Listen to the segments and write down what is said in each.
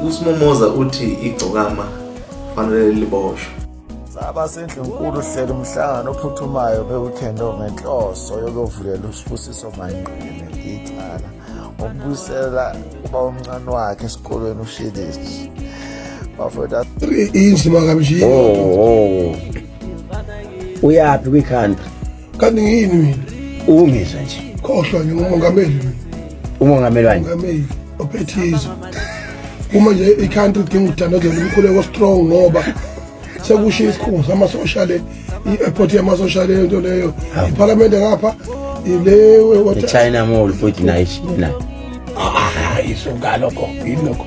USmomoza uthi igcokama fanele liboshwe. Saba sendlunkulu uhlela umhlangano ophuthumayo beweekend ongenhloso yokuvulela uSibusiso Manqele icala ngokubuyisela uba omncane wakhe esikolweni uShilisi. Bafethu inzima kamjini. Oh, oh. Uyaphi kwi-country? kanti ngiyini mina ungizwe nje khohlwa nje umongameli mina umongameli wani umongameli ophethizo uma nje i-country idinga ukudandazela umkhuleko strong ngoba sekushiya isikhungo samasosha le i-airport yamasosha le nto leyo iphalamende ngapha ilewe-china mall futhi nayo ishina hayi ah, ah, ah, isungalokho yilokho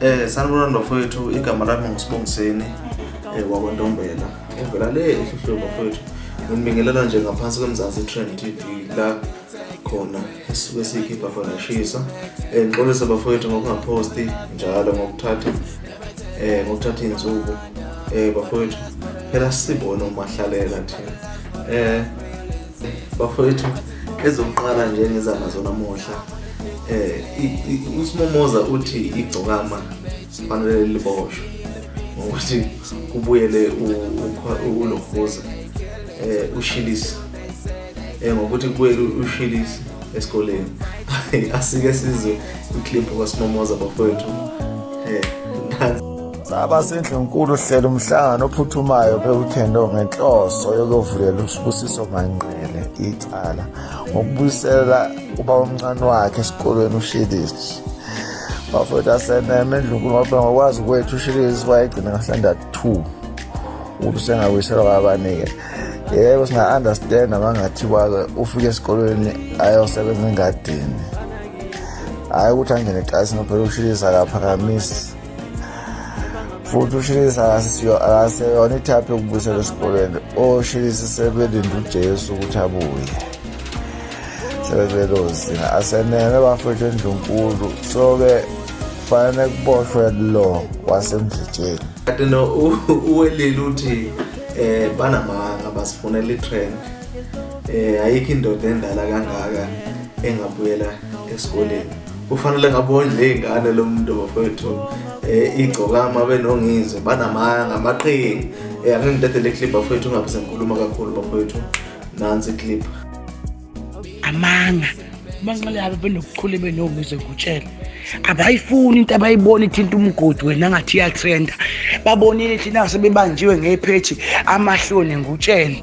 Eh sanibona ndofowethu igama lami ngusibongiseni eh wakwentombela uvela le ehluhlwe bafowethu nginibingelela nje ngaphansi kwemzansi trend tv la khona esisuke siyikhipha khona ishisa um ngixolise bafowethu ngokungaphosti njalo ngokuthatha um ngokuthatha iy'nsuku um bafowethu phela sibone umahlalela thina um bafowethu ezokuqala nje ngizama zona muhla um usimomoza uthi igcokama fanele liboshwe ngokuthi kubuyele ulohoza um ushilisa um ngokuthi kubuyele ushilisa esikoleni asike sizwe ikliphu kwasimomoza bafowethu um Saba sendlunkulu hlela umhlangano ophuthumayo kwi-weekend ngenhloso yokuvulela uSibusiso Manqele icala ngokubuyisela uba omncane wakhe esikolweni uShilishi bafowethu aseneme endlunkulu ngoba ngokwazi kwethu uShilishi wayegcina ngasanda two ubusengabuyiselwa kwabanike yebo singa-understand abangathi kwake ufike esikolweni ayosebenza engadini hhayi ukuthi angene eqasini phela uShilishi akaphakamisi futhi ushilisi akaseyona ithaphi yokubuyisela esikoleni oshilisi sebelinde ujesu ukuthi abuye sebebelozina asenene bafethu endlunkulu so-ke kufanele kuboshwe lo wasemdlitsheni kanti no uwelile uthi um banamanga basifunela i-trend um ayikho indoda endala kangaka engabuyela esikoleni kufanele ngabondla iy'ngane lo muntu bafowethu um eh, igcokama benongizwe banamanga amaqhingi um eh, angingidedele iclip bafowethu ungabe sengikhuluma kakhulu bafowethu nansi iclip amanga umanxele yabo benokuchule benongizwe kutshela abayifuni into abayibona ithinta umgodi wena ngathi iyatrenda babonile thina sebebanjiwe ngephethi amahloni ngutshele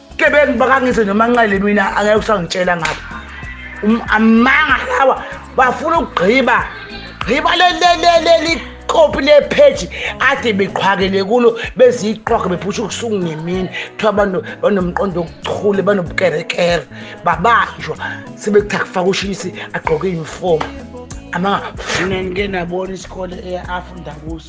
Gebengu bakangithi noma nxele mina angeke usangitshela ngapha. Um, amanga lawa bafuna ukugqiba. Gqiba le le le le likopi le page ade beqhwakele kulo beziqhwaga bephusha ukusuku ngemini kuthiwa abantu banomqondo okuchule banobukerekere babanjwa sebekuthi akufaka ushisi agqoke uniform amanga mina ngike nabona isikole afunda kuso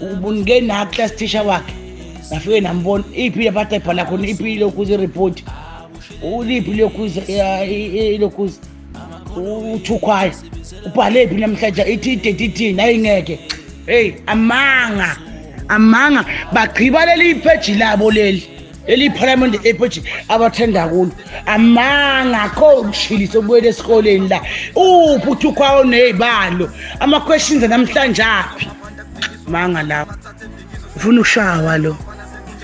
ubunike na class teacher wakhe ngafike nambona iphi laphatha ibhala khona iphi lokhuza ireport uliphi lokhuza lokhuza uthukhwayo ubhale phi namhlanje ithi idate ithini ayingeke heyi amanga amanga bagqiba leli ipheji labo leli leli parliament epoji abathanda kulo amanga akho ukushilisa ubuyele esikoleni la uphi uthi ukwawo nezibalo ama questions namhlanje aphi manga la ufuna ushawa lo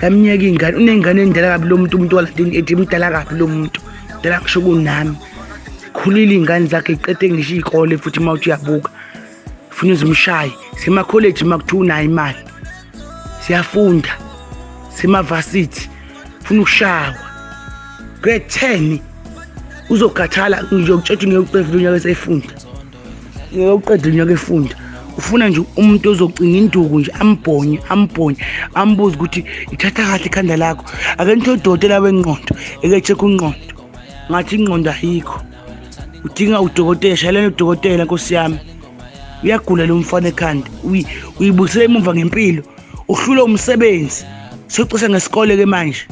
kamnyeka ingane unengane endala kabi lo muntu umuntu waladini ethi mdala kabi lo muntu dala kusho kunami khulile ingane zakhe iqede ngisho ikole futhi mawuthi uyabuka funa uzimshaye semakholeji uma kuthiwa unayo imali siyafunda semavasithi funa ukushawa grade 10 uzokhathala ngiyokutshela ngeke uqedile unyaka esefunda ngeke uqedile unyaka efunda ufuna nje umuntu ozocinga induku nje ambhonye ambhonye ambuze ukuthi ithatha kahle ikhanda lakho ake nitho udokotela wenqondo eke check unqondo ngathi inqondo ayikho udinga udokotela shayelana udokotela nkosi yami uyagula lo mfana ekhanda uyibuyisela emuva ngempilo uhlule umsebenzi socisha ngesikole ke manje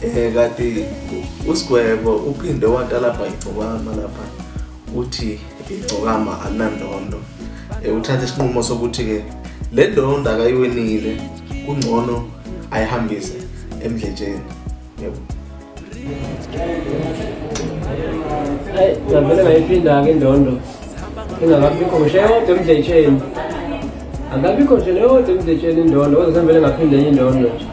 Eh kati usigwebo uphinde watalapha igcokama lapha uthi igcokama anandondo eh, uthathe isinqumo sokuthi ke le ndondo akayiwenile kungcono ayihambise emdletsheni yebo ngavele ngayiphinda-ke indondo ingakabikho ngisho eyodwa emdletsheni angabikho nje leyodwa emdletsheni indondo kodwa sengivele ngaphinde enye indondo nje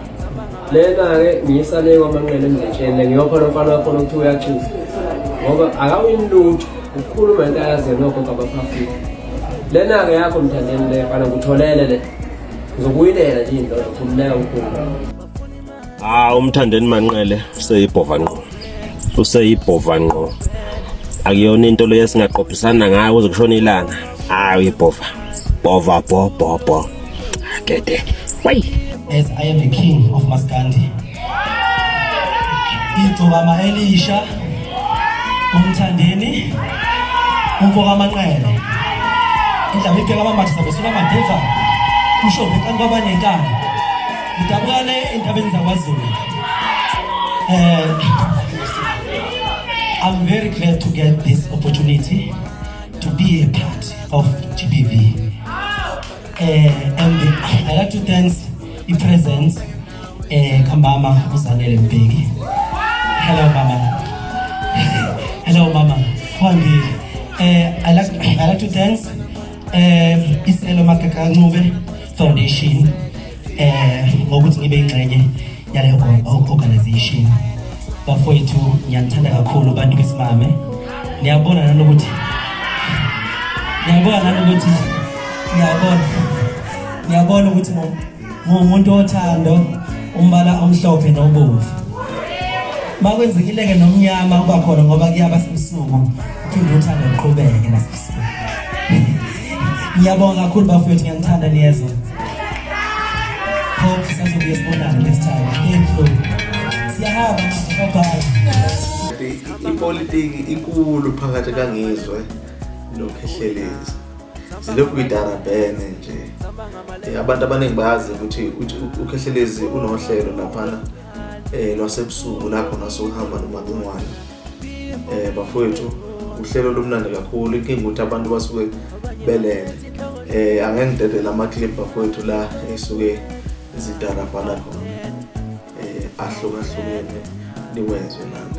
lena-ke ngiyisale kwamanqele emdletsheni ngiyopha lomfana wakhona ukuthi uyachuza ngoba akawini lutho ukukhuluma into ayaziyo nokho kabaphafile lena-ke yakho mthandeni le fana ngutholele le ngizokuyilela nje indondo khululeka ukhuluma Ah umthandeni manqele useyibhova ngqo. Useyibhova ngqo. Akuyona into leyo singaqophisana ngayo kuze kushone ilanga. Ah uyibhova. Bhova bho bho bho. Gede. Why? As I am the king of Maskandi. Igcokama elisha umthandeni umfoka amanqele. Indaba ipheka amambatha sabe sula madiva. Usho vekani kwabanekani. Ngidabukane entabeni zakwaZulu. Eh I'm very glad to get this opportunity to be a part of GBV. Uh, eh, and I like to thank the presence, uh, eh, Kambama Uzanele Mbegi. Hello, Mama. Hello, Mama. Kwandi, uh, eh, I like I like to thank uh, Iselo Makakancube. Foundation eh ngokuthi ngibe ingxenye yaleyo organization bafowethu ngiyanithanda kakhulu abantu besimame niyabona nanokuthi niyabona nanokuthi niyabona niyabona ukuthi ngumuntu othando umbala omhlophe nobomvu makwenzekile-ke nomnyama uba khona ngoba kuyaba sebusuku uphinde uthando luqhubeke nasebusuku Ngiyabonga kakhulu bafowethu ngiyanithanda niyezwa. Hope sisazobuye sibonane next time. Thank you. Siyahamba bye bye. Ipolitiki inkulu phakathi kaNgizwe noKhehlelezi. Silokhu idara bene nje. Eh, abantu abaningi bazi ukuthi uKhehlelezi unohlelo laphana eh lwasebusuku lapho nasuhamba noMacingwane eh bafowethu uhlelo lomnandi kakhulu inkinga ukuthi abantu basuke belele eh angeke ngidedele ama clip bafowethu la esuke izidarabhana khona eh ahlukahlukene niwezwe nami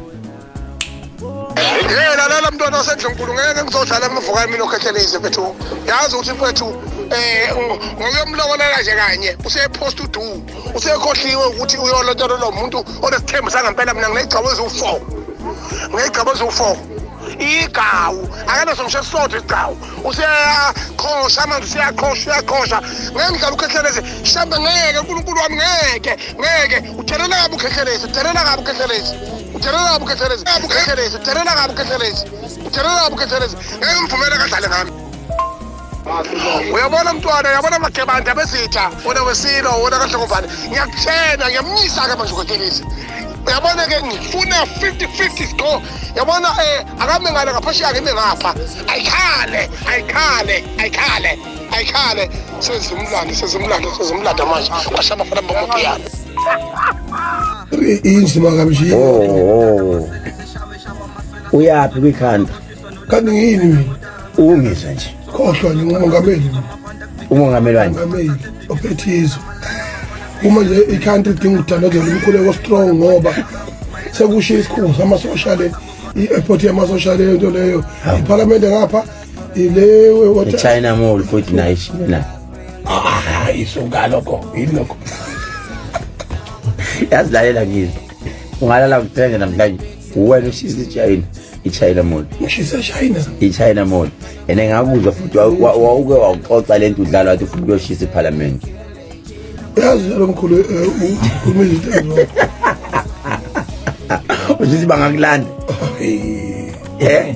yena lala mntwana wasendlunkulu ngeke ngizodlala ngivuka emini okhethelise mfethu yazi ukuthi mfethu um ngokuyomlokolela nje kanye usephosta udu usekhohliwe ukuthi uyolotshela lo muntu onesithembu sangempela mina nginegcabo eziwu-four nginegcabo eziwu-four igawu akanaso ngisho esisodwa igawu useyaqhosha manje useyaqhosha uyaqhosha ngeke ngidlala ukhetheleze mhlawumbe ngeke unkulunkulu wami ngeke ngeke uthelela kabi ukhekhelezi uthelela kabi ukhekhelezi uthelela kabi ukhekhelezi kabi ukhekhelezi uthelela kabi ukhekhelezi uthelela kabi ukhekhelezi ngeke ngivumele kadlale ngami uyabona mntwana uyabona magebanda besitha wona wesilo wona kahlokobane ngiyakutshena ngiyamnyisa-ke manje ukhekhelezi yabona ke ngifuna 50-50 score yabona um eh, akame ngale ngaphesheya kimi ngapha ayikhale ayikhale ayikhale ayikhale sezimlando sezimlando sezimlando manje kwasha abafana bomopiyano inzima kamjini oh uyaphi kwikhanda kanti ngiyini mina ungizwe nje khohlwa nje ngumongameli umongameli wanje umongameli ophethe izwe uma nje i-country idinga ukudalazela umkhuleko strong ngoba sekushiya isikhungo samasosha le i-airport yamasosha leyo nto leyo iphalamende ngapha ilewe wathi China mall futhi nayo ishina ah isunga lokho yilokho yazilalela ngini ungalala ngithenge namhlanje wena ushisa ichina ichina mall ushisa china ichina mall and engakuzwa futhi wawuke wawuxoxa lento udlala wathi futhi uyoshisa iphalamende yazi lo mkhulu eh, ukhuluma izinto ezo ushisa bangakulanda eh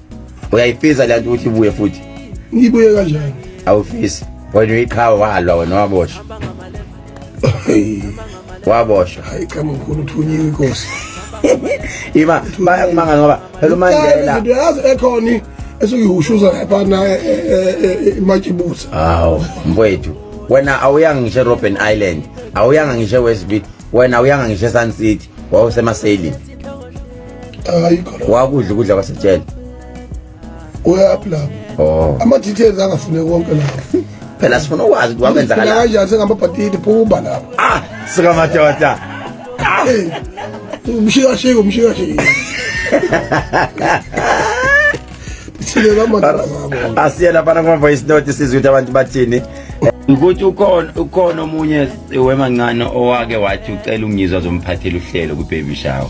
uyayifisa le nto ukuthi ibuye futhi ngibuye kanjani awufisi wena uyiqhawe walwa wena waboshwa waboshwa hayi cha mkhulu uthunyiwe inkosi ima bayamanga ngoba phela umandela into yazi ekhoni esukuyihushuza lapha na e, e, e, imatshibuza hawo mfowethu wena awuyanga ngisho Robben Island awuyanga ngisho West Beach wena awuyanga ngisho Sun City wawusemaselini hayi khona wakudla ukudla kwasejele uyaphi lapho oh ama details angafune konke lapho phela sifuna ukwazi ukuthi wamenza ngala kanjani sengambabhatiti phuba lapho ah sika madoda ah! umshika shika umshika shika asiye laphana kuma-voice note sizwe ukuthi abantu bathini ukuthi ukhona ukhona omunye wemancane owake wathi ucela ungizwa zomphathela uhlelo kwi-baby shower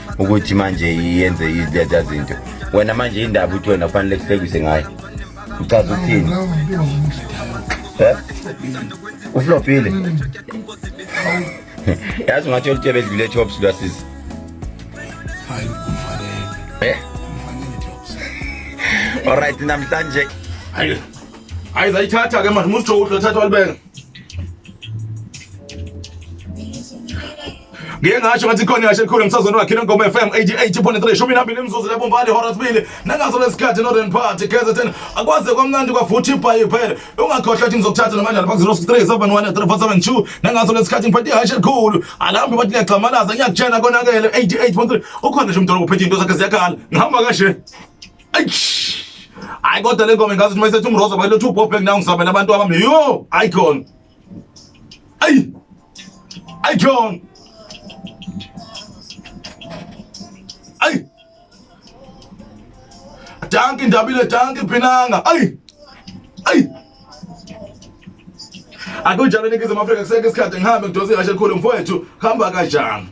ukuthi manje yenze izileta zinto wena manje indaba uthi wena kufanele kuhlekise ngayo uchaza ukuthini eh? uflopile yazi ungathi olutshebe edlule chops lwasisi eh? olright namhlanje hayi zayithatha ke manje musitsho uhle thatha walibeka ngike ngasho ngathi khona ngasho elikhulu emsazweni wakhe lengoma FM 88.3 shumi nambili imizuzu lebombali ihora sibili nangaso lesikhathi northern party kzn akwaze kwamnandi kwavuthi ibhayi phela ungakhohlwa ukuthi ngizokuthatha namandlala bak 063 nangaso lesikhathi ngiphethe ihashe elikhulu alambe bathi liyagxamalaza ngiyakutshena konakele 88.3 ukhona nje umdolobha uphethe into zakhe ziyakhala ngihamba kashe Eish. Hayi kodwa le ngoma ingazi uma isethi umroza bayiletha two pop nayo ngizamela abantu abami. Yo, hayi khona. Ayi. Ayi khona. Ayi. Danki ndabile danki phinanga. Ayi. Ayi. Akunjalo ningizimu Afrika kuseke isikhathi ngihambe ngidose ihashe likhulu mfowethu hamba kanjani.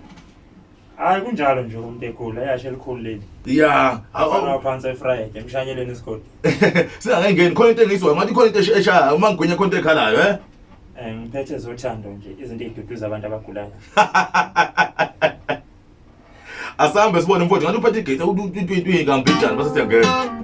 hayi kunjalo nje umuntu egula eyashe elikhulu leli ya phansi efriday emshanyeleni isigodi singakengeni khona into engizwa ngathi khona into eshaya uma ngigwinya khona into ekhalayo eh? eh ngiphethe zothando nje izinto eziduduza abantu abagulayo asambe sibone mfowethu ngathi uphethe igate utwintwintwi kambijani base siyangena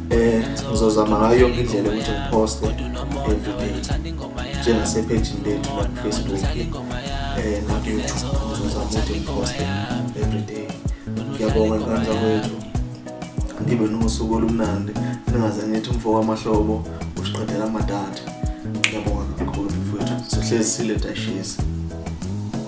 eh ngizozama ngayo yonke indlela ukuthi ngiposte everyday njengasephejini lethu la kufacebook eh nakuyoutube ngizozama ukuthi ngiposte everyday ngiyabonga ingane zakwethu ngibe nosuku olumnandi ningaze ngithi umfo wamahlobo usiqedela amadata ngiyabonga kakhulu mfowethu sihlezi siletashisi